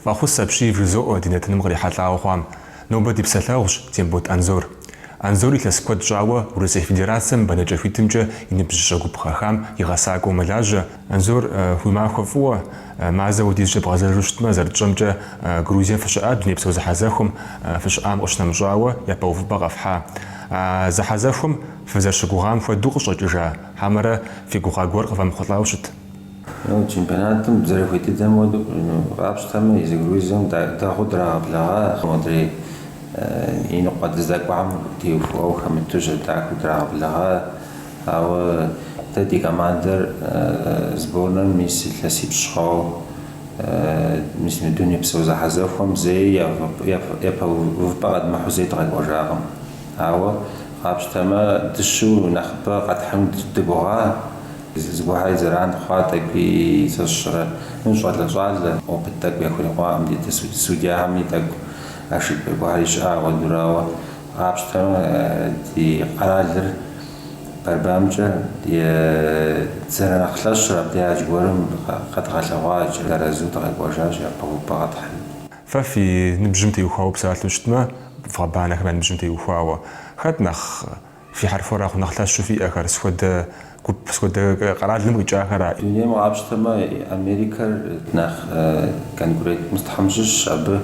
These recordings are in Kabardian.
Фӏэхъус апщий вжызоӏэ ди нэтыным кърихьэлӏауэ хъуам. Нобэ ди псалъэгъущ Тембот Анзор. Анзор илъэс куэд щӏауэ Урысей Федерацэм бэнэкӏэ хуитымкӏэ и ныбжьыщӏэ гуп къыхэхам и гъэсакӏуэу мэлажьэ, Анзор, уи махуэ фӏыуэ. Мазэ хуэдизкӏэ бгъэзэжу щытмэ, зэрытщӏэмкӏэ, Грузием фыщыӏа дунейпсо зэхьэзэхуэм фыщыӏам къыщынэмыщӏауэ япэ увыпӏэ къэфхьа? А зэхьэзэхуэм фызэрыщыгугъам хуэдэу къыщӏэкӏыжа, хьэмэрэ фи гугъа гуэр къывэмыхъулӏауэ щыт? Ау чемпионатым зэрыхуей дыдэм хуэдэу къапщтэмэ, езы Грузием дэгъуэу драгъэблэгъа модрей иныкъуэ дыздэкӏуам теухуауэ хэмыту щӏэдахэу драгъэблэгъа. Ауэ дэ ди командэр сборнэм мис илъэсипщӏ хъуауэ, мис мы дунейпсо зэхьэзэхуэм зэи япэ увыпӏэ къэдмыхьу зэи дыкъэкӏуэжакъым. Ауэ, къапщтэмэ, дыщу нэхъыбэ къэтхьыну дыгугъа? Зыгуэрхэри зэран хъуа тӏэкӏуи сщӏэрэ? Ну, щӏалэ-щӏалэ, опыт тӏэкӏу яхурикъуакъым ди судьяхэми, тӏэкӏу ошибкэ гуэрхэри щыӏа ауэдурауэ. Къапщтэмэ, ди къэралыр борьбамкӏэ дызэрынэхъ лъэщыр абдей адж гуэрым къэдгъэлъэгъуа икӏи арэзыуэ дыкъэкӏуэжащ япэ увыпӏэ къэтхьыным. Фэ фи ныбжьым теухуауэ псалъэу щытмэ, вгъэбанэхэм я ныбжьым теухуауэ, хэт нэхъ фи хьэрхуэрэгъу нэхъ лъэщу фиӏэхэр, сыт хуэдэ Сыт хуэдэ къэралым къикӏахэра. Дунейм къапщтэмэ, Америкэр нэхъ конкурент мыстхэм щыщщ, абы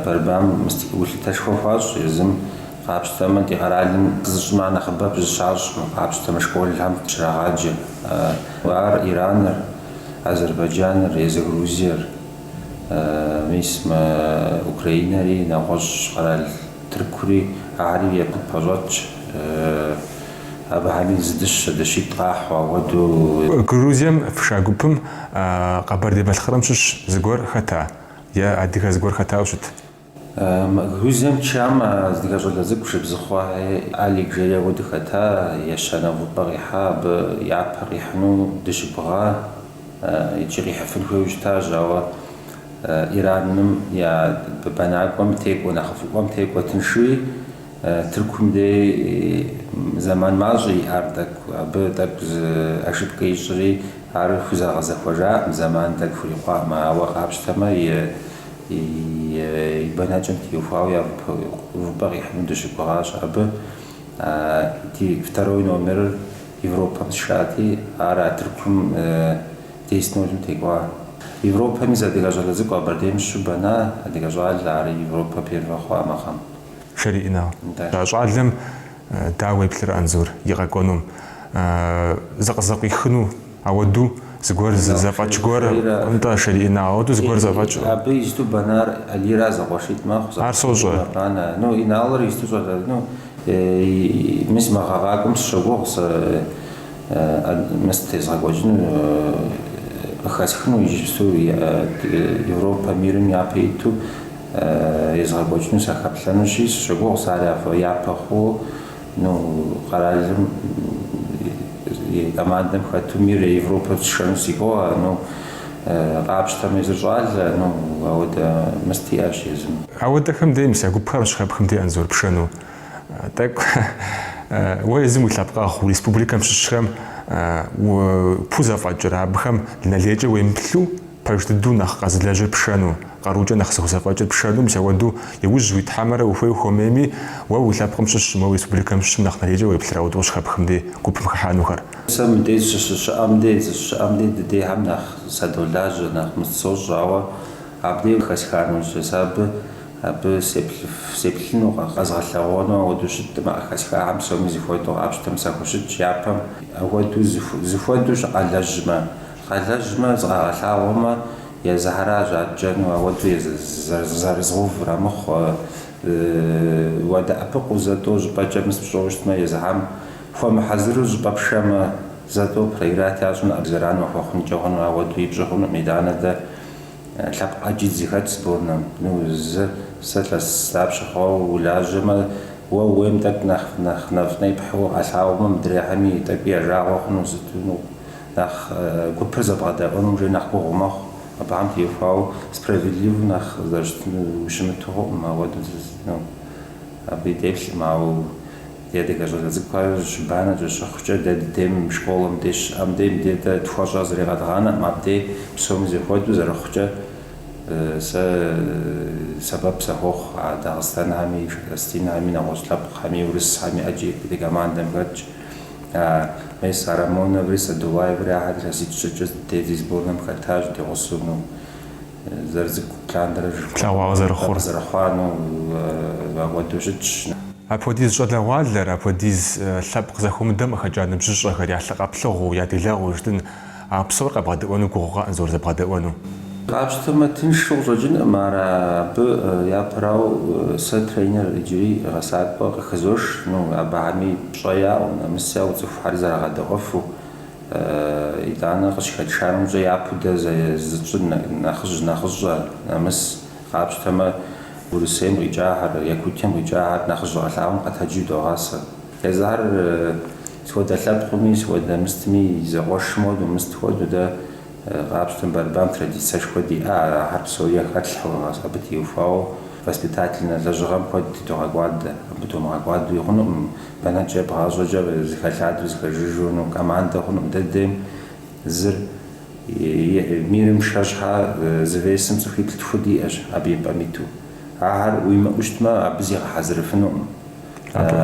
борьбам мыст гулъытэшхуэ хуащӏ, езым къапщтэмэ, ди къэралым зыщӏыма нэхъыбэп зыщащӏ, мы къапщтэмэ школхэм щрагъаджэ. Ар Ираныр, Азербайджаныр, езы Грузиер, мис мы Украинэри, нэгъуэщӏ къэрал Тыркури, ари япэщӏэтщ. Абыхэми зы дыщэ, дыщитӏ къахьу, ауэду. Грузием фша гупым Къэбэрдей-Балъкъэрым щыщ зыгуэр хэта е адыгэ зыгуэр хэтауэ щыт? Грузием тшам зы адыгэ щӏалэ цӏыкӏу Шэбзыхъуэ Алик жери ауэду хэта, ещанэ увыпӏэ къихьа, абы япэ къихьыну дыщыгугъа икӏи къихьыфын хуейуэ щытащ, ауэ Ираным я бэнакӏуэм текӏуэ, нэхъыфӏыӏуэм текӏуэ тыншуи, Тыркум дей зэман мащӏэ иӏар тӏэкӏу. Абы тӏэкӏу зы ошибкэ ищӏри, ар хузэгъэзэхуэжакъым, зэман тӏэкӏу хурикъуакъым. Ауэ къапщтэмэ, и бэнэкӏэм теухуауэ увыпӏэ къихьыну дыщыгугъащ. Абы ди второй номерыр Европэм сшати, ар а тыркум десять нолым текӏуа. Европэм зы адыгэ щӏалэ цӏыкӏу Къэбэрдейм щыщу бэна адыгэ щӏалэ, ар Европэ первэ хъуа мы гъэм. Шэрий Инал. А щӏалэм дауэ уеплъыр Анзор и къэкӏуэнум, зыкъызэкъуихыну ауэду зыгуэр зэфӏэкӏ гуэр, нтӏэ, Шэрий Инал, ауэду зыгуэр зэфӏэкӏ. Абы исту бэнар Алийра зэкъуэшитӏ мэхъу, зэкъуэшитӏ мэбанэ. Ну, Иналыр исту щӏалэ, ну, мис мы гъэ къакӏуэм сыщогугъ сэ мыс тезгъэкӏуэкӏыну, къыхэсхыну иджыпсту Европэ, мирым япэ иту езгъэкӏуэкӏыну сахэплъэнущи, сыщогугъ сэ ар япэ хъуу, ну, къэралым и командэм хэту мир е Европэ сшэну си гугъэ, ну, къапщтэм езыр щӏалэ, ну, ауэдэ мыс диӏэщ езым. Ауэдэхэм дей мис а гупхэр къыщыхэпхым дей Анзор пшэну. Тӏэкӏу уэ езым уи лъэпкъэгъу, уи республикэм щыщхэм, уэ пхузэфӏэкӏыр, абыхэм нэ лейкӏэ уемыплъу, Пэж дыдэу нэхъ къэзылэжьыр пшэну, къарукӏэ нэхъ зыхузэфӏэкӏыр пшэну мис ауэду и ужь уит, хьэмэрэ ухуей хуэмейми, уэ уи лъэпкъым щыщым, уи республикэм щыщым нэхъ нэ лейкӏэ уеплъыр ауэду къыщыхэпхым дей гупым хыхьэнухэр. Сэ мыбдеж сыщыщыӏэм дей, сыщыщыӏэм дей дыдейхэм нэхъ садолажьэ, нэхъ мыс сощӏ, ауэ абдей хэсха нэужь сэ абы, абы сеплъыф, сеплъыну, къэзгъэлъэгъуэну ауэдэу щытӏым, а хэсхахэм псоми зыхуэдэу къапщтэм сахущытщ япэм. Ахуэдэу, зыхуэдэу щыкъалэжьмэ. Къалэжьмэ, зыкъагъэлъагъуэмэ, езыхьэра жьакӏэну, ауэдэу зэрызгъэувра мыхъуу, уадэӏэпыкъуу зэтӏо щӏыпӏэкӏэ мыс пщӏэу щытмэ, езыхьэм хуэмыхьэзыру щӏыпӏэ пшэмэ, зэтӏо проиграть ящӏын, абы зэран уахуэхъункӏэ хъуну, ауэдэу пщӏы хъунукъым, итӏанэ дэ лъэпкъ ӏэджи зыхэт сборнэм, ну, зы, сэ илъэс дапщэ хъуауэ улажьэмэ, уэ уейм тӏэкӏу нэхъ нэфӏ непхьу къалъагъумэ, мыдрехьэми, тӏэкӏуи я жагъуэ хъуну, сыту ныкъу. нэхъ гупыр зэбгъэдэӏуэнум жей нэхъ гугъу мэхъу, абыхэм теухуауэ справедливэу нэхъ зэрыщытынур ущымыту хъуӏым, ауэдэу зызытынур абы деплъкъым, ауэ ди адыгэ щӏалэ цӏыкӏухэр щыбанэкӏэ щыхъукӏэ, дэ дыдейм школэм дей щыӏэм дей мыбдей дэ тхуэщӏэр зыри къэдгъанэкъым, абдей псоми зэхуэдэу зэрыхъукӏэ сэ сэбэп сыхуохъу а Дагъыстанхэми, осетинхэми, нэгъуэщӏ лъэпкъхэми, урысхэми ӏэджи ди командэм хэтщ. Мес а Рамоноври Садулаеври ахэр илъэситӏ-щыкӏэ дэ ди сборнэм хэтащ ди гъусэну, зэрыцӏыкӏу лъандэрэ тлъэгъуауэ зэрыхъур зэрыхъуну ахуэдэу щытщ. Апхуэдиз щӏалэгъуалэр, апхуэдиз лъэпкъ зэхуэмыдэм къыхэкӏа ныбжьыщӏэхэр я лъы къэплъыгъуэу, я делэгъуэу жытӏэн, А псор къэбгъэдэӏуэну гугъукъэ Анзор зэбгъэдэӏуэну? Къапщтэмэ, тыншу къыщӏэкӏынкъым ар абы япэрау сэ тренер иджыри гъэсакӏуэ къыхызош, ну, абыхьэми пщӏэ яӏэу, нэмыс яӏэу цӏыхухьэр зэрагъэдэӏуэфу, итӏанэ къыщыхэтшанымкӏэ япэу дэ зытщӏыр нэхъыжь нэхъыщӏэ, нэмыс къапщтэмэ Урысейм къикӏахэр, Якутием къикӏахэр нэхъыжь къалъагъум къэтэджу догъасэ. Езыхьэр Сыхуэдэ лъэпкъми, сыхуэдэ мыстми, зэкъуэшым хуэду, мыст хуэду дэ къапщтэм борьбам традицэшхуэ диӏэ, ар ахэр псори яхэтлъхьэу, абы теухуауэ воспитательнэ лэжьыгъэм куэд тыдогъэкӏуадэ. Абы тумыгъэкӏуадуи хъунукъым, бэнэкӏэ ебгъащӏэкӏэ зы хэлъадэу, зы хэжыжу, ну, командэ хъунукъым. Дэ ддейм зыр мирым яшэ щхьэ зы весым цӏыхуиплӏ тху диӏэщ, абы и пӏэм иту. Ахэр уимыӏэу щытмэ, абы зигъэхьэзырыфынукъым.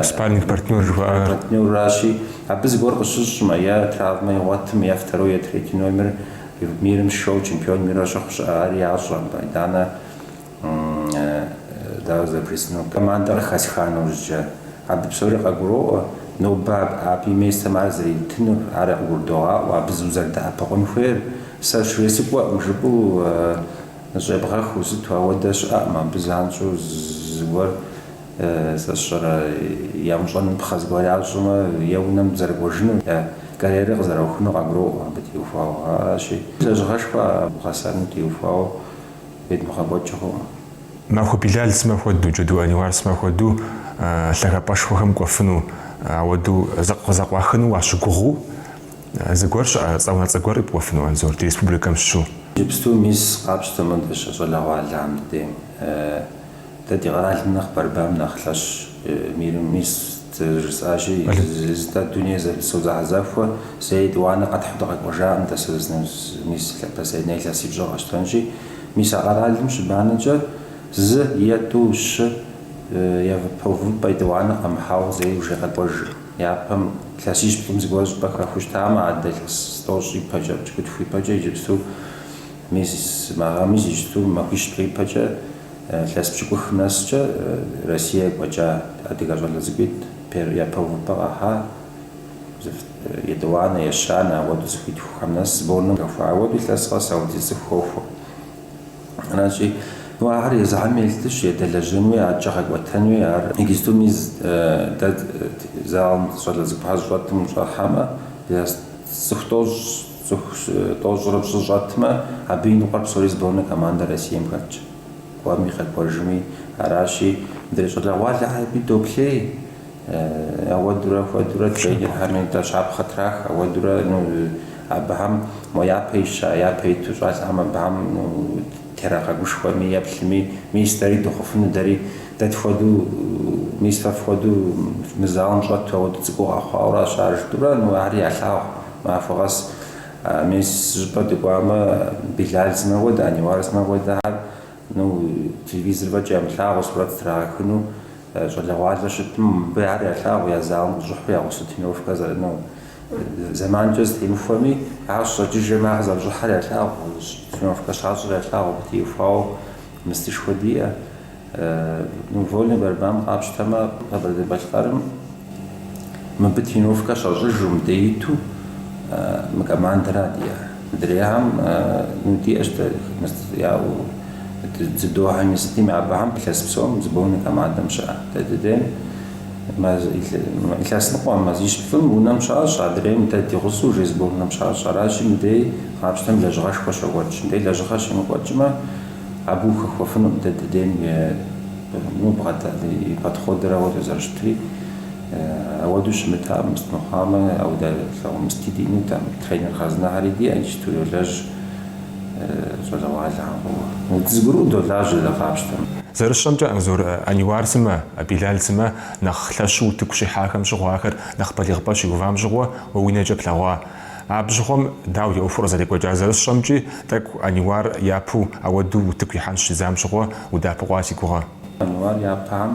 Спарринг партнер жыхуаӏэр. Партнерращи, абы зыгуэр къыщыщӏмэ, е травмэ игъуэтым, е второй, е третий номер мирым яшэу чемпион мира щыхъу щыӏэ, ари ящӏэ. Майданэ, дауэ зэрыприсынур, командэ къыхэсха нэужькӏэ, абы псори къагуроӏуэ. Нобэ абы и местым ар зэритынур, ар къыгурыдогъаӏуэ, абы зыу зэрыдэӏэпыкъун хуейр. Сэ щресыкӏуэкъым жыпӏэу щӏебгъэхыу сыту ауэдэ щыӏэкъым, абы занщӏэу зыгуэр. Сэ сщӏэрэ, ямыщӏапхъэ зыгуэр ящӏмэ, е унэм зэрыкӏуэжыну, е карьерэ къызэраухыну къагуроӏуэ абы теухуауэ. Аращи, лэжьыгъэшхуэ гъэсэным теухуауэ едмыгъэкӏуэкӏ хъуӏым. Махуэ Билал сымэ хуэдэу, Джэду Аниуар сымэ хуэдэу лъагапӏэшхуэхэм кӏуэфыну, ауэдэу зыкъызэкъуахыну уащыгугъыу зыгуэр щыӏэ, цӏэ унэцӏэ гуэр къипӏуэфыну, Анзор, ди республикэм щыщу? Иджыпсту мис къапщтэмэ, дэ щӏалэгъуалэхэм дыдейм. Дэ ди къэралым нэхъ борьбам нэхъ лъэщ мирым, мис, зэрыжысӏащи, зы-зы-зытӏэ дунейпсо зэхьэзэхуэ, зэи етӏуанэ къэтхьу дыкъэкӏуэжакъым, дэ сэ зны, мис, последнэ илъэсипщӏыр къэщтэнщи, мис а къэралым щыбанэкӏэ зы е тӏу щы япэ увыпӏэ етӏуанэ къэмыхьауэ зэи уже къэкӏуэж. Япэм лъэсищ плӏым зыгуэр щӏыпӏэ хэхыу щытамэ, адэ лъэс тӏощӏ ипэкӏэ, пщыкӏутху ипэкӏэ иджыпсту, мис, мы гъэм, мис иджыпсту, махуищ плӏы ипэкӏэ, Илъэс пщыкӏухым нэскӏэ Россие кӏуэкӏа адыгэ щӏалэ цӏыкӏуитӏ пер япэ увыпӏэ къахьа етӏуанэ, ещанэ ауэду цӏыхуитхухэм нэс сборным хэхуа. Ауэду илъэс къэс ауэдиз цӏыху хохуэ. Аращи, ну ахэр езыхьэми елъытащ, едэлэжьэнуи, акӏэ къэкӏуэтэнуи. Ар иджысту мис дэ залым щӏалэ цӏыкӏухьэ щыщӏэтым ущӏэхьэмэ, илъэс цӏыху тӏощӏ. Цӏыху тӏощӏрэ пщӏырэ щӏэтмэ, абы и ныкъуэр псори сборной командэ Россием хэтщ. Кӏуэми къэкӏуэжми аращи, мыдрей щӏалэгъуалэр абы доплъей. Ауэдурэ хуэдурэ тренерхэми нтӏэ щапхъэ трах, ауэдурэ ну абыхэм мо япэ ища, япэ иту щӏалэхэм абыхэм ну терагъэгушхуэми, еплъыми, мис дэри дыхъуфыну, дэри дэ тхуэду, мис фэ фхуэду мы залым щӏэту ауэду цӏыкӏуу къэхъуауэ аращ, ар жытӏурэ ну ари ялъагъу, Махуэ къэс мис щӏыпӏэ дыкӏуамэ, Билал сымэ хуэдэ, Аниуар сымэ хуэдэхьэр, ну, телевизор фӏэкӏ ямылъагъуу сурэт зытрагъэхыну щӏалэгъуалэу щытым, мыбы ар ялъагъу я залым къыщӏыхьэу я гъусэ тренировкэ зэр, ну, зэманкӏэ зэтемыхуэми, ар щӏэкӏыжмэ, ар зэрыщӏыхьэр ялъагъу, тренировкэ щащӏыр ялъагъу, абы теухуауэ мыстышхуэ диӏэ. Вольный борьбам къапщтэмэ, Къэбэрдей-Балъкъэрым мыбы тренировкэ щащӏыжу мыбдеж иту мы командэра диӏэр. Мыдрейхэм ну диӏэщ дэ яӏэу дзюдохэми сытми, абыхэм илъэс псом сборный командэм щыӏэ. Дэ дыдейм илъэс ныкъуэм, мазищ-плӏым унэм щащӏ, адрейм дэ ди гъусэу уже сборнэм щащӏ. Аращи, мыбдеж къапщтэм лэжьыгъэшхуэ щокӏуэкӏ. Мыбдеж лэжьыгъэ щемыкӏуэкӏмэ, Абы ухэхуэфынут дэ дыдейм и, ну, бгъэдэлъ, и подходыр ауэдэу зэрыщытри. Ауэдэу щымытам, мыст мыхъуамэ, ауэдэ лъагъуэ мысти диӏэнутэкъым. Тренер хъарзынэхьэри диӏэ, иджысту йолэжь щӏалэгъуалэхэм фӏыуэ. Дызэгурыӏуэу долажьэ дэ къапщтэм. Зэрысщӏэмкӏэ, Анзор, Аниуар сымэ, Билал сымэ нэхъ лъэщу утыку щихьахэм щыгъуэ ахэр нэхъ балигъыпӏэ щиувам щыгъуэ уэ уи нэкӏэ плъэгъуа? Абы щыгъуэм дауэ ӏуэхур къызэрекӏуэкӏа зэрысщӏэмкӏи, тӏэкӏу Аниуар япэу ауэдэу утыку ихьэн щыщӏидзам щыгъуэ удэӏэпыкъуа си гугъэ. Аниуар япэхэм,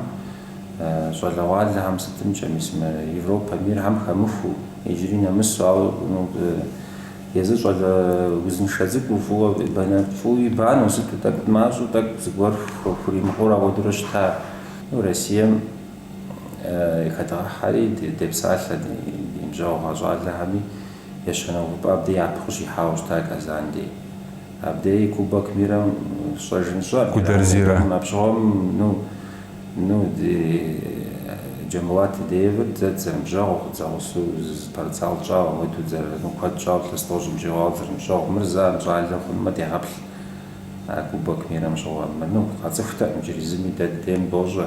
щӏалэгъуалэхэм сытымкӏэ мис мы Европэ мирхэм хэмыхуэу, иджыри нэмысу, ауэ езыр щӏалэ узыншэ цӏыкӏуу, фӏыуэ бэнэ, фӏыуэ банэу, сыту тӏэкӏу мащӏэу, тӏэкӏу зыгуэр хуримыхъуэурэ ауэдурэ щыта. Россием Хэдгъэхьэри депсалъэ ди ныбжьэгъугъэ щӏалэхэми ещанэ увыпӏэ абдей япэ къыщихьауэ щыта Казан дей. Абдеи Кубок мирэм щӏэжын щӏэ Гудерзирэ. Абщыгъуэм ну, ну, ди Джамбулат Тедеевыр дэ дызэрыныбжьэгъу, дзэгъусэу зы спортзал тщӏауэ, мыду дзэрырыну куэд тщӏауэ лъэс тӏощӏым щӏигъуауэ дызэрыныбжьэгъу. Мыр зэ ар щӏалэ хъунумэ дегъэплъ а Кубок мирэм щыгъуэ. Мы, ну, къэцӏыхутэкъым иджыри зыми, дэ ди дейм дощӏэ.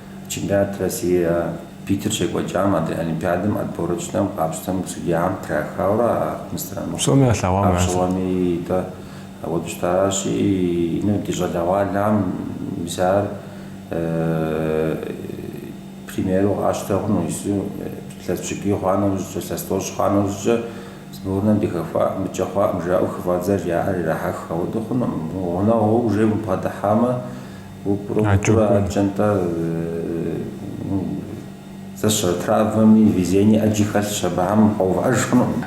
Чемпионат Россие Питер щекӏуэкӏам адрей Олимпиадэм отборочнэм къапщтэну судьяхэм трахауэрэ а Псоми ялъэгъуам ясэу. Абщыгъуэми, итӏэ, ауэду щытаращи, ну ди щӏалэгъуалэм мис ар примеру къащтэ хъуну, иджыпсту илъэс пщыкӏуий хъуа нэужькӏэ, илъэс тӏощӏ хъуа нэужькӏэ сборнэм дыхэхуа, мыкӏэ хъуакъым жаӏэу хыфӏадзэр яӏэр ирахьэх, ауэду хъунукъым. Гъунэгъуу уже убгъэдыхьамэ. Адэкӏэ укӏуэн. Нтӏэ, ну, зэщэ травмэми, везение ӏэджи хэлъщ, абыхэм къэувыӏэж хъунукъым.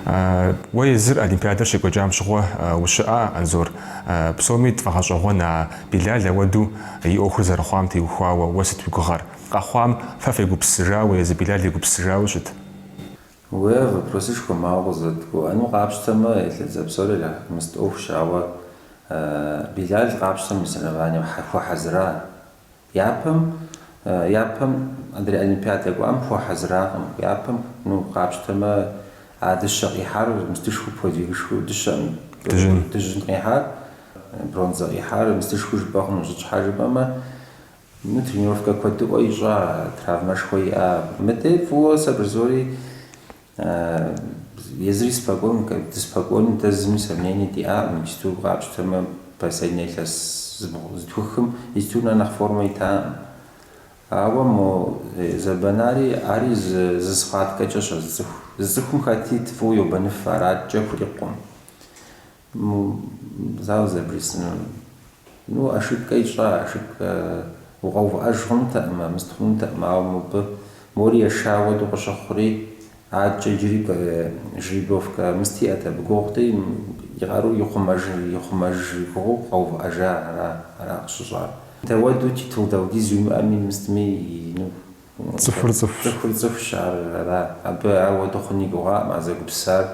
Уэ езыр олимпиадэр щекӏуэкӏам щыгъуэ ущыӏа, Анзор? Псоми тфӏэгъэщӏэгъуэн а Билал ауэду и ӏуэхур зэрыхъуам теухуауэ уэ сыт уи гугъэр? Къэхъуам фэ фегупсысыжауэ езы Билал егупсысыжауэ щыт? Уэ, вопросышхуэ мауэ къызэрыдгуэӏэну къапщтэмэ, Елэдзэ псори ирахьэх, мыст ӏуэхущ, ауэ Билал къапщтэм и соревнованием хуэхьэзыра. Япэм, япэм адрей олимпиадэ кӏуам хуэхьэзыракъым, япэм, ну, къапщтэмэ, а дыщэ къихьар мыстышхуэу подвигышхуэу дыщэкъым, Дыжьын. дыжьын къихьар, бронзэ къихьар мыстышхуэу жыпӏэ хъунущ, сыт щхьэ жыпӏэмэ, Мы тренировкэ куэдыӏуэ ищӏа, травмэшхуэ иӏа. Мыдэ фӏыуэ сэ бырзори езыри спокойнэу, дыспокойнэу дэ зыми сомнение диӏакъым. Иджыту къапщтэмэ, последне илъэс зытхухым иджыту нэ нэхъ формэ итакъым. Ауэ мо зэбэнари ари зы схваткэкӏэщ а зы цӏыху. Зы цӏыхум хэт ит фӏыуэ йобэныф, араткӏэ хурикъукъым. Мо зауэ зэрыбжесӏэнур. Ну, ошибкэ ищӏа, ошибкэ. Укъэувыӏэж хъунутэкъымэ, мыст хъунутэкъым, ауэ мобы мори еша хуэдэу къыщыхъури, адэкӏэ иджыри жеребьевкэ мыст иӏэт абы. Гугъути, и къару ихъумэж и гугъэу къэувыӏэжа ара къыщыщӏар. Дауэду титул даудиз уимыӏэми, мыстми, ну. Цӏыхур цӏыхущ. Цӏыхур цӏыхущ, ар ара? Абы ауэду хъун и гугъакъым, а зэгупсар,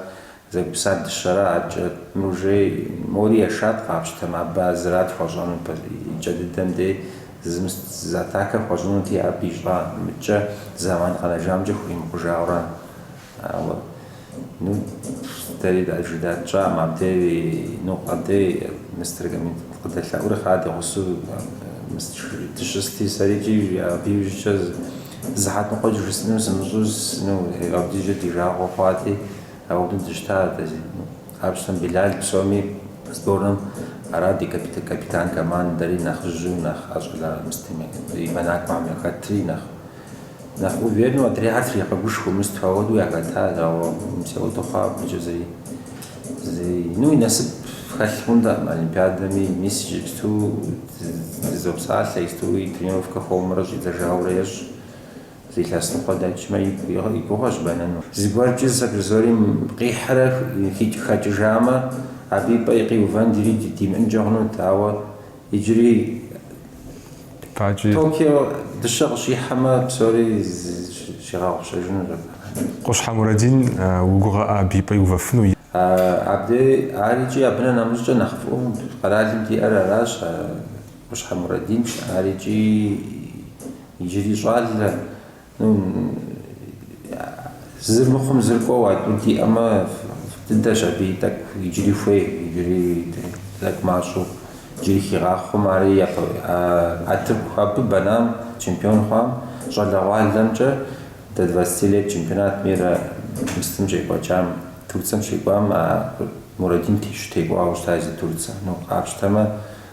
зэгупсар дыщэра, адэкӏэ мыр уже мори ешат къапщтэмэ, абы ар зырат хуэщӏэнур, пэ икӏэ дыдэм дей зым зы атакэ хуэщӏынути, абы ищӏа мыкӏэ, зэман къэнэжамкӏэ хуримыкъужауэ ара? Ауэ, ну, дэри дажи датщӏам абдеи, ну, къэбдеи, мистер Гамидт къыдэлъэӏури хъа ди гъусэу мист жи, дыщысти, сэри кӏий жи, абы иужькӏэ зы, сыхьэт ныкъуэкӏэ жысӏэну сымыщӏэу, с, ну, абдеи жи ди жагъуэ хъуати, ауэду дыщыта, дэ, зи, ну, къапщтэм Билал псоми сборным, ара ди капит, капитан командэри, нэхъыжьу, нэхъ ӏэщӏэла мыстыми бэнакӏуэхэм яхэтри, нэхъ, Нэхъ увереннэу адрейхэр тригъэгушхуэу мыст, ауэдэу яхэтащ, ауэ мис ауэду хъуа абыкӏэ зэи. Зэи. Ну, и насып хэлъ хъунтэкъым олимпиадэми, мис иджыпсту дызопсалъэ, иджыпсту и тренировкэ хуэмурэ щӏидзэжаурэ ещӏ. Зы илъэс ныкъуэ дэкӏмэ, игу, и гугъэщ бэнэну. Зыгуэркӏи зы сабыр зыори къихьрэ хэкӏыжамэ, абы и пӏэ къиувэн дэри димыӏэнкӏэ хъунут, ауэ Иджыри Токио дыщэ къыщихьэмэ, псори щигъэгъупщэжыну. Къущхьэ Мурадин, уи гугъэ абы и пӏэ иувэфыну? Абдей, Ар икӏи абынэ нэмыщӏкӏэ нэхъ фӏыӏуэу къэралым диӏэр аращ, Къущхьэ Мурадин, ар икӏи иджыри щӏалэ, Зыр мыхъум зыр кӏуэу а тӏур диӏэмэ, дыдэщ абы и тӏэкӏу иджыри хуей, иджыри тӏэкӏу мащӏэу, иджыри хигъахъуэм ари япэ, а тырку абы бэнам, чемпион хъуам, щӏалэгъуалэмкӏэ до двадцати лет чемпионат мира мыстым щекӏуэкӏам, Турцэм щекӏуам а Мурадин текӏуауэ щыта зи Турцэ. Ну, къапщтэмэ,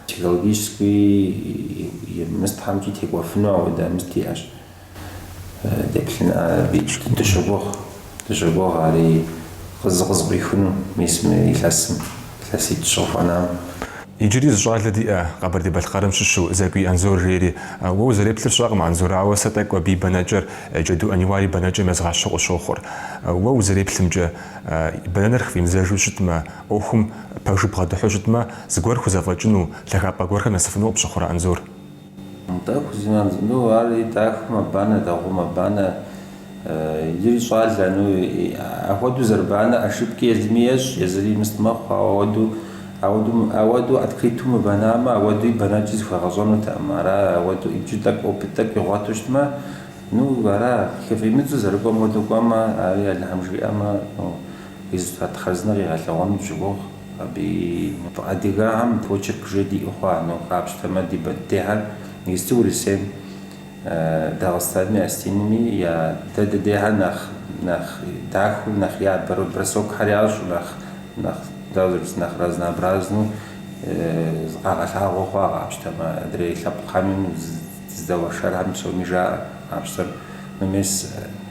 Психологически мыстхэмкӏи текӏуэфыну ауэдэ мыст иӏэщ. Деплъын дыщогугъ, дыщогугъ ари зыкъызэкъуихыну мис мы илъэсым, илъэситӏ-щы къыхуэнам. Иджыри зы щӏалэ диӏэ, Къэбэрдей-Балъкъэрым щыщу, Зэкӏуий Анзор жери. Уэ узэреплъыр сщӏэкъым, Анзор, ауэ сэ тӏэкӏу абы и бэнэкӏэр Джэду Ӏэниуар и бэнэкӏэм езгъэщхьу къысщохъур. Уэ узэреплъымкӏэ, бэнэныр хыфӏимыдзэжу щытмэ, ӏуэхум пэжу бгъэдыхьу щытмэ, зыгуэр хузэфӏэкӏыну, лъагапӏэ гуэрхэм нэсыфыну къыпщыхъурэ Анзор? Атӏэ, хыфӏимыдзэмэ, ну, ари дахэу мэбанэ, дэгъуэу мэбанэ, иджыри щӏалэ, ну, иӏэ. Ахуэдэу зэрыбанэ ошибки езыми ещӏ, езыри мыст мэхъу, ауэ ауэдэу, ауэдэу, ауэдэу открыту мыбэнамэ, ауэдуи бэнэкӏи зыхуэгъэщӏэнутэкъым. Ара, ауэдэу иджы тӏэкӏу, опыт тӏэкӏу игъуэту щытмэ, ну, ара, хыфӏимыдзу, зэрыкӏуэм хуэдэу кӏуэмэ, ари Алыхьым жиӏэмэ, ну, результат хъарзынэ къигъэлъэгъуэну дыщогугъ. Абы и. Адыгэхэм почерк жи диӏэу хъуа ну, къапщтэмэ, ди мыбдейхэр иджыпсту Урысейм, Дагъыстанми, Осетинми я дэ дыдейхэр нэхъ нэхъ дахэу, нэхъ ябэрэу, бросокхэр ящӏу, нэхъ нэхъ, дауэ зэрыпс, нэхъ разнообразну зыкъагъэлъагъуэ хъуа къапщтэмэ, адрей лъэпкъхэми, зы здэуэршэрхэм псоми жаӏэ къапщтэм. Ну мис.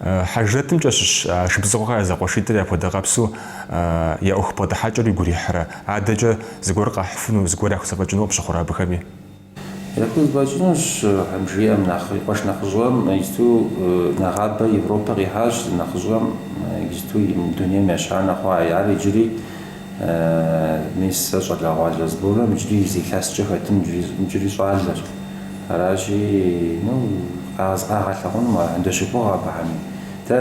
Хьэжрэтымкӏэ щыщ Шыбзыхъуэхэ я зэкъуэшитӏыр япхуэдэ къэпсу я ӏуэху бгъэдыхьэкӏэр уигу ирихьрэ? Адэкӏэ зыгуэр къахьыфыну, зыгуэр яхузэфӏэкӏыну къыпщыхъурэ абыхэми? Яхузэфӏэкӏынущ, Тхьэм жиӏэм нэхъри. Къуэш нэхъыжьыӏуэм иджыпсту нэгъабэ Европэ къихьащ, зы нэхъыжьыӏуэм иджыпсту дунейм ещанэ хъуа, ар иджыри Мис сэ щӏалэгъуалэ сборым иджыри зы илъэскӏэ хэтым иджыри щӏалэщ. Аращи, ну, къагъэлъэгъуэну ар, дыщогугъ абыхэми. Дэ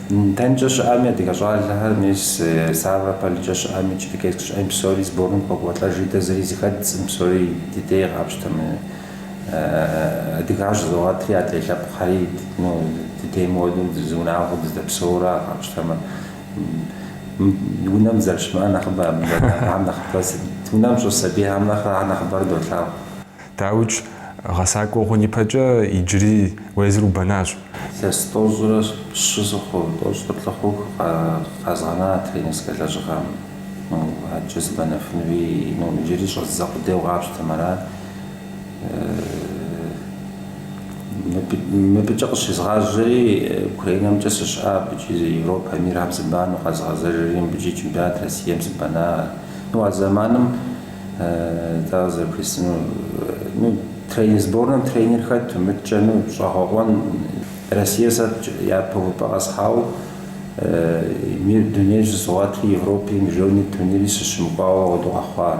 дэнкӏэ щыӏэми, адыгэ щӏалэхэр, мис Ставрополькӏэ щыӏэми, Черкесск щыӏэми псори сборым къокӏуэлӏэжри, дэ зыри зыхэддзкъым псори ди дей къапщтэмэ, адыгэ щызогъэтри, адрей лъэпкъхэри, ну, ди дейм хуэдэу зы унагъуэу дызэдэпсэур къапщтэмэ. Унэм зэрыщымыӏэр нэхъыбэ абы дэдагъэхьэм нэхъыбэ сыт? Унэм щӏыс сабийхьэм нэхърэ ар нэхъыбэрэ долъагъу. Дауикӏ, гъэсакӏуэ хъун ипэкӏэ иджыри уэ езыр убэнащ. Сэ сытӏощӏрэ щы сыхъу, тӏощӏрэ плӏы хъуху, къэзгъэна тренерскэ лэжьыгъэм. Ну, адэкӏэ сыбэнэфынуи, ну, иджыри щӏэздзэ къудейуэ къапщтэмэ арат. Мыбыкӏэ къыщезгъажьэри, Украинэмкӏэ сыщыӏа абыкӏи Европэ, мирхэм сыбанэу къэзгъэзэжри, мыбыкӏи чемпионат Россием сыбэна. Ну, а зэманым тӏэ къызэрыхуисыну, ну, тренер, сборнэм тренер хэту, мыдэкӏэ, ну, щӏэгъэкъуэн. Россие сэ япэ увыпӏэ къэсхьауэ мир, дунейр щызогъэтри, Европи, Международный турнири сыщымыкӏуауэ къэхъуа.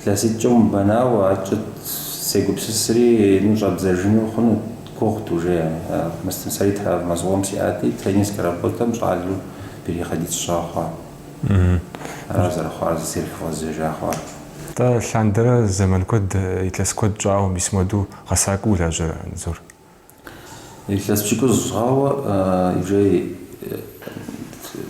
Илъэситӏкӏэ умыбэнауэ, ар кӏыт, сегупсысри, ну щӏэбдзэжыну хъуну гугъут уже ар. Мыстым сэри травмэ зыкъом сиӏати, тренерскэ работэм щӏалэу переходить сщӏа хъуа. Аращ зэрыхъуар, зэрызгъэзэжа хъуар. Атӏэ, лъандэрэ зэман куэд, илъэс куэд щӏауэ мис моду гъэсакӏуэу улажьэрэ, Анзор? Илъэс пщыкӏуз хъуауэ иджы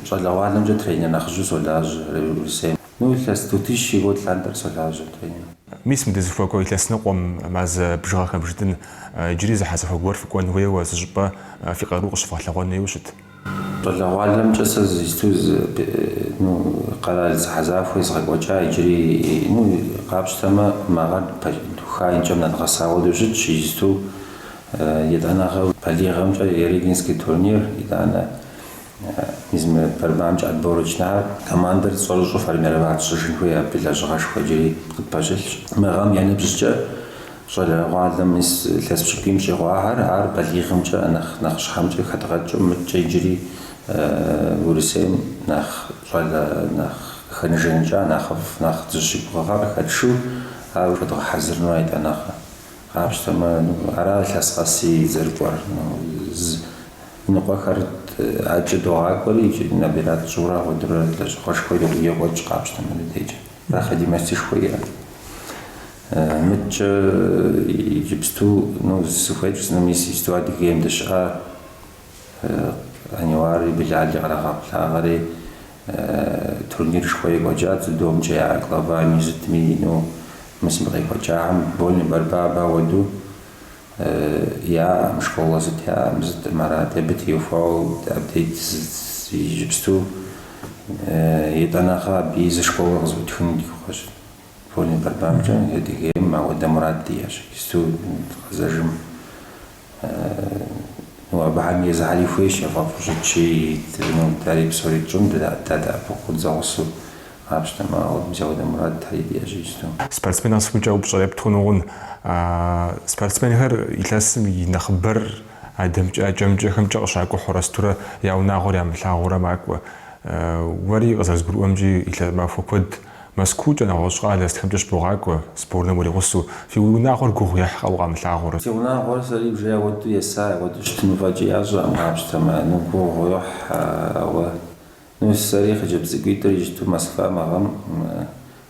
щӏалэгъуалэмкӏэ тренер нэхъыжьу солажьэ Урысейм. Ну, илъэс Тутищ и год лъандэрэ солажьэ тренер. Мис мы дызыхуэкӏуэ илъэс ныкъуэм мазэ бжыгъэхэм жытӏэн, иджыри зэхьэзэхуэ гуэр фыкӏуэн хуейуэ зы щӏыпӏэ фи къару къыщывгъэлъэгъуэн хуейуэ щыт? Щӏалэгъуалэмкӏэ сэ иджысту зы, ну, къэрал зэхьэзахуэ езгъэкӏуэкӏа иджыри, ну, къапщтэмэ, мы гъэр духа, и кӏэм нэдгъэса хуэдэу щытщ, иджысту етӏанэгъэ балигъхэмкӏэ Ярыгинский турнир, итӏанэ мис мы борьбамкӏэ отборочныйхэр, командэр щӏэрыщӏэу формировать щӏыжын хуей, абы и лэжьыгъэшхуэ иджыри къытпэщылъщ. Мы гъэм я ныбжькӏэ. Щӏалэгъуалэ мис илъэс пщыкӏуийм щӏигъуахьэр, ар балигъымкӏэ нэхъ нэхъыщхьэмкӏэ хэдгъэкӏыу, мыдкӏэ иджыри Урысейм нэхъ щӏалэ нэхъ къыхэжаныкӏа нэхъыфӏ, нэхъ дызыщыгугъыгъа къыхэтшыу, ар уже дгъэхьэзырыну етӏанэгъэ. Къапщтэмэ, ара илъэс къэси зэрыкӏуэр. Языныкъуэхэр адэкӏэ догъакӏуэри, икӏи набирать тщӏыурэ апхуэдэурэ лэжьыгъэшхуэ екӏуэкӏ къапщтэмэ дыдейкӏэ. Проходимостышхуэ иӏэщ. Мыдкӏэ иджыпсту, ну, сыхуей пщӏыну, мис иджыпсту Адыгейм дыщыӏа, Аниуари Билали кърагъэблагъэри, турнирышхуэ екӏуэкӏа дзюдомкӏэ я глава Мижъытми ину, мис мы къекӏуэкӏахэм вольнэ борьба ауэду яӏэкъым, школэ зыт яӏэкъым, зытӏым арат, абы теухуауэ абдей иджыпсту етӏанэгъэ абыи зы школэ къызыӏутхыну ди гугъэщ. Вольнэ борьбамкӏэ Адыгейм ауэдэ мурад диӏэщ, исту къэзэжым. Ну, абыхэм езыхьэри хуейщ яфӏэфӏу щытщи, ну, ари псори тщӏын, дадэӏэпыкъу къыдзэгъусу къапщтэмэ, ауэ мис ауэдэ мурадхэри диӏэщ исту. Спортсмен къэсыхукӏэ упщӏэр епт хъуну хъунщ. Спортсменхэр илъэсым и нэхъыбэр адэмкӏэ, адкӏэ-мыдкӏэхэмкӏэ къыщакӏухьурэ сытурэ я унагъуэр ямылъагъуурэ макӏуэ. Уэри къызэрызгурыӏуэмкӏи, илъэсым махуэ куэд Мэзкуукӏэ, нэгъуэщӏ къалэ сытхэмкӏэ щыбогъакӏуэ, сборнэм уригъусэу, фи, уи унагъуэр гугъу ехькъэ укъамылъагъурэ? Си унагъуэр сэри уже ауэду есай, ауэду щытыну фӏэкӏи ящӏэкъым, къапщтэмэ, ну гугъу йохь, ауэ, ну, сэри хъыджэбз цӏыкӏуитӏыр исту Москва мы гъэм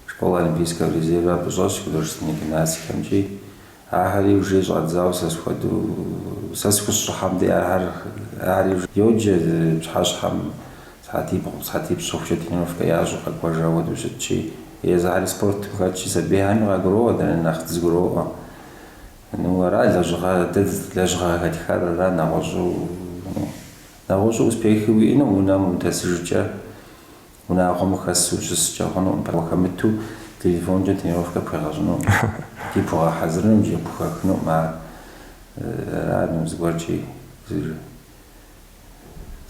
школа олимпийского резерва абы щӏэсщ художественнэ гимнастикэмкӏи, Ахэри уже щӏадзауэ сэ схуэдэу, сэ схущӏыхьэм де ахэр, ахэри уже йоджэ пщхьэщхьэм сыхьэтибгъу, сыхьэтипщӏ щыхъукӏэ тренировкэ ящӏу къэкӏуэжа хуэдэу щытщи, езыхьэри спортым хэтщи, сабийхьэми къагуроӏуэ дэри нэхъ дызэгуроӏуэ. Ну, ара лэжьыгъэ, дэ лэжьыгъэ къыхэтхар ара нэгъуэщӏу, нэгъуэщӏу успехи уиӏэну унэм удэсыжкӏэ Унагъуэм ухэсу ущыскӏэ хъунукъым, пэжу уахэмыту телефонкӏэ тренировкэ пхуегъэщӏынукъым, икӏи пхуэгъэхьэзырыну икӏи пхуэхъунукъым ар. Ара ну зыгуэркӏи зыр.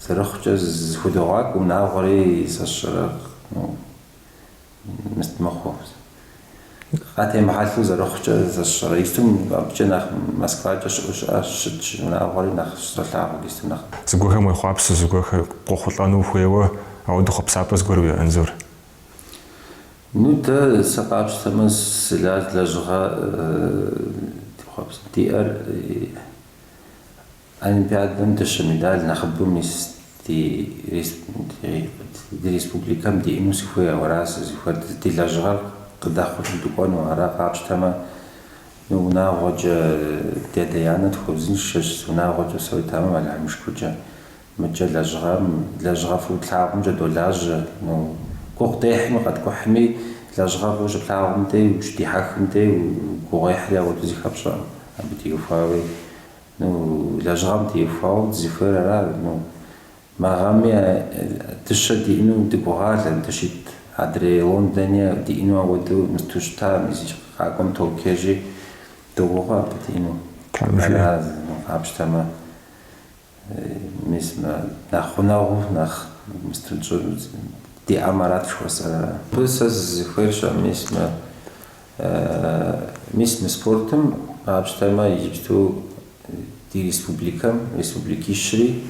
Зэрыхъукӏэ зэхудогъакӏуэ унагъуэри, сэ сщӏэрэ, ну, мыст мыхъуу. Къатемыхьэлъэу зэрыхъукӏэ, сэ сщӏэрэ истум абыкӏэ нэхъ Москвакӏэ щыӏэу щыӏащ щытщ унагъуэри нэхъ щызолъагъу иджыпсту нэхъ. Зыгуэрхэм уехъуапсэу зыгуэрхэр къохъулӏэну ухуейуэ, ауэдэ хъуэпсапӏэ зыгуэр уиӏэ, Анзор. Ну, дэ сэ къапщтэмэ, сыла лэжьыгъэ дехъуапсэу диӏэр? Олимпиадэм дыщэ медаль нэхъыбэу мис ди республикэм диӏэну сыхуей ара сызыхуейр ди лэжьыгъэр къыдэхъулӏэу дыкӏуэну, ара къапщтэмэ ну унагъуэкӏэ ди адэ-анэ тхуэузыншэщ ну унагъуэкӏэ псои тэмэм Алыхьым и шыкуркӏэ мыкӏэ лэжьыгъэм лэжьыгъэ фӏыуи плъагъумкӏэ долажьэ ну гугъу дехьми къэткӏухьми лэжьыгъэ фӏыуи щыплъагъум дей ущыдихьэхым дей гугъуехьри ауэду зыхэпщӏэм абы теухуауи Ну, лэжьыгъэм теухуауэ дызыхуейр ара? Ну, мы гъэми дыщэ диӏэну дыгугъалэ, дыщит адрей Лондони диӏэну ауэдэу мысту щыта, мис къакӏуэм Токио иджы, догугъэ абы диӏэну. Ара, ну, къапщтэмэ, мис мы нэхъ гъунэгъуу, нэхъ мысту тщӏы, диӏэмэ арат жыхуэсӏэр ара? Абы сэ сызыхуейр щыӏэ, мис мы. Мис мы спортым къапщтэмэ, иджыпсту ди республикэм, республикищри,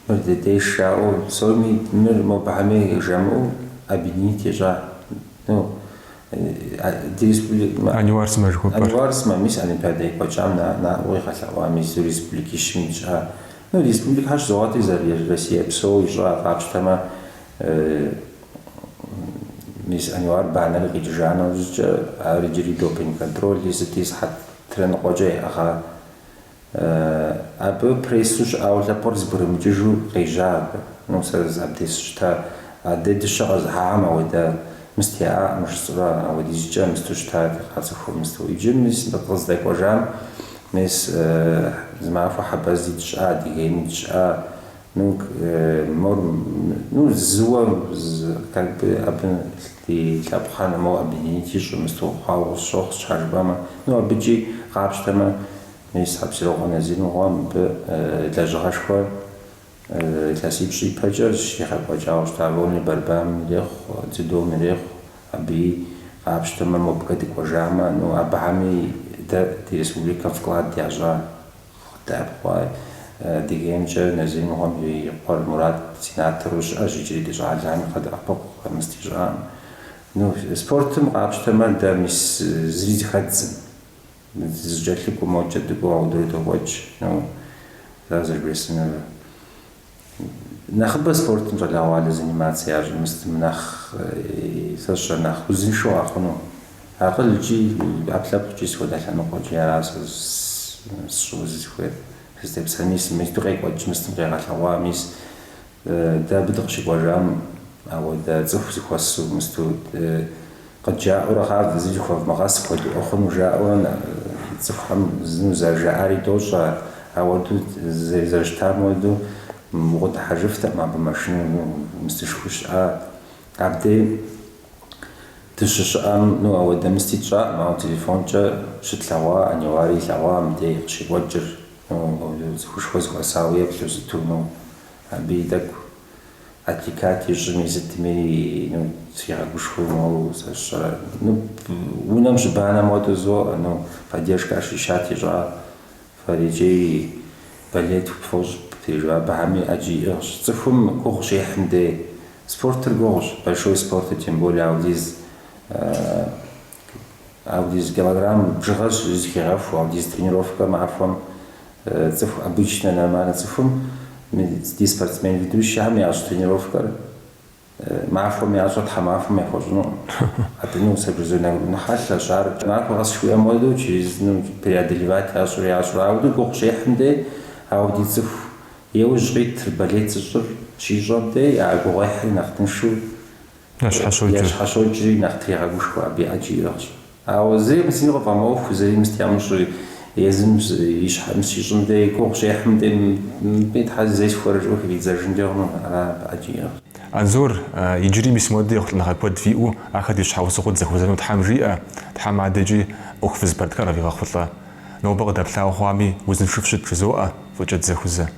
мыр дыдей жаӏэу, псоми мыр мобыхьэм ей жамыӏэу объединить ищӏа. Ну, ди республик... Ануар сымэ жыхуэпӏэр. Ануар сымэ, мис Олимпиадэ екӏуэкӏам наӏуэу игъэлъэгъуа мис республикищым ищӏа. Ну, республикхэр щызогъэтри зэры-Россия псо ищӏа къапщтэмэ, Мис Ануар банэри къикӏыжа нэужькӏэ, ар иджыри допинг контроль исти сыхьэтитӏрэ ныкъуэкӏэ яӏыгъа. Абы прессу щыӏауэ лъэпкъыр зэбгрымыкӏыжу къежьа абы. Ну, сэ абдес щыта, адэ дыщэ къэзыхьахэм ауэдэ, мыстеӏакъым жысӏэурэ апхуэдизкӏэ мысту щыта дыкъацӏыхуу мысту. Иджы мис къыздэкӏуэжам, мис зы махуэ Хьэбэз дыщыӏа, Адыгейм дыщыӏа. Ну, мор, ну, зыуэ, как бы, абы ди лъэпкъхьэр нэхъ моуэ объединить ищӏу мысту хъуауэ къысщохъу, сщхьа жыпӏэмэ. Ну, абыкӏи къапщтэмэ, мис Хьэпсырокъуэ Назир мыгъуэ мыбы лэжьыгъэшхуэ илъэсипщӏ ипэкӏэ щигъэкӏуэкӏауэ щыта, вольнэ борьбам ирехъу, дзюдом ирехъу, абыи къапщтэмэ, мобыкӏэ дыкӏуэжамэ, ну, абыхьэми дэ ди республикэм вклад ящӏа. Къыддэӏэпыкъуаи, Адыгеймкӏэ Назир мыгъуэм и къуэр Мурат сенатору щыӏэщ иджыри ди щӏалэхэми къадэӏэпыкъу къэмысти щыӏэкъым. Ну, спортым къапщтэмэ, дэ мис зыри зыхэддзым. Зэкӏэлъыкӏуэу мокӏэ дыкӏуэу, ауэдэурэ докӏуэкӏ, ну, ара зэрыбжесӏэнур. Нэхъыбэ спортым щӏалэгъуалэ заниматься ящӏу мыстым нэхъ сэ сщӏэр нэхъ узыншэу къэхъуну. Акъылкӏи ӏэпкълъэпкъкӏи сыт хуэдэ лъэныкъуэкӏи ара сэ сщӏыну сызыхуейр. Сызытепсэхэр мис мысту къекӏуэкӏ, мыстым къегъэлъэгъуа, мис дэ абы дыкъыщыкӏуэжам ауэдэ цӏыху зэхуэсу мысту Къыджаӏэурэ къав зы жыхуэвмыгъэс хуэдиӏуэ хъуну жаӏэурэ цӏыхухэм зы ну зэрыжаӏари дощӏэ, ауэду зэрыщытам хуэдэу укъыдыхьэжыфтэкъым абы машинэ мыстышхуи щыӏат. Абдей дыщыщыӏэм ну ауэдэ мысти тщӏакъым, ауэ телефонкӏэ щытлъэгъуа Аниуари илъэгъуа мыбдей къыщекӏуэкӏыр, ну цӏыхушхуэ зэхуэсауэ еплъу сыту, ну абыи тӏэкӏу. Атикат ищӏми сытми ну сигъэгушхуэу моуэ сэ сщӏэрэ. Ну унэм щыбанэ модэ зоӏэ, ну поддержка ощущать ищӏа фэр иджей болеть фӏыщӏ птежу абыхэми ӏэджи иӏыгъщ. Цӏыхум гугъу щехьым дей спортыр гугъущ, большой спортыр, тем более аудиз Аудиз килограмм бжыгъэ щызыхигъэху аудиз тренировкэ махуэм цӏыху обычнэ нормальнэ цӏыхум ди спортсмен ведущэхэм ящӏ тренировкэр махуэм ящӏэр тхьэмахуэм яхуэщӏынукъым. Абы ну сэ безумно хьэлъэщ ар махуэ къэс щыуиӏэм уэду через ну преодолевать ящӏыр ящӏыр ауду гугъу щехьым дей ауди цӏыху и ужь къитыр болеть зыщӏыр щищӏэм дей а гугъуехьри нэхъ тыншу ящхьэщокӏыр. Ящхьэщокӏри нэхъ трегъэгушхуэ абы ӏэджи иӏыгъщ. Ауэ зыри зыми къыфӏэмыӏуэху, зыри мыст ямыщӏи, езым и щхьэ мыст щищӏым дей, и гугъу щехьым дей, мыбы Тхьэр зэи схуэрэ жиӏэу хыфӏидзэжынкӏэ хъуну, ара абы ӏэджи иӏыгъщ. Анзор иджыри мис модэ ехъулӏэныгъэ куэд фиӏэу ахэр ди щхьэусыгъуэу дызэхуэзэну Тхьэм жиӏэ, Тхьэм адэкӏи ӏуэху фызыпэрытхэр къывигъэхъулӏэ. Нобэ къыдэплъауэ хъуами, узыншэу фыщыт, жызоӏэ фӏыкӏэ дызэхузэ.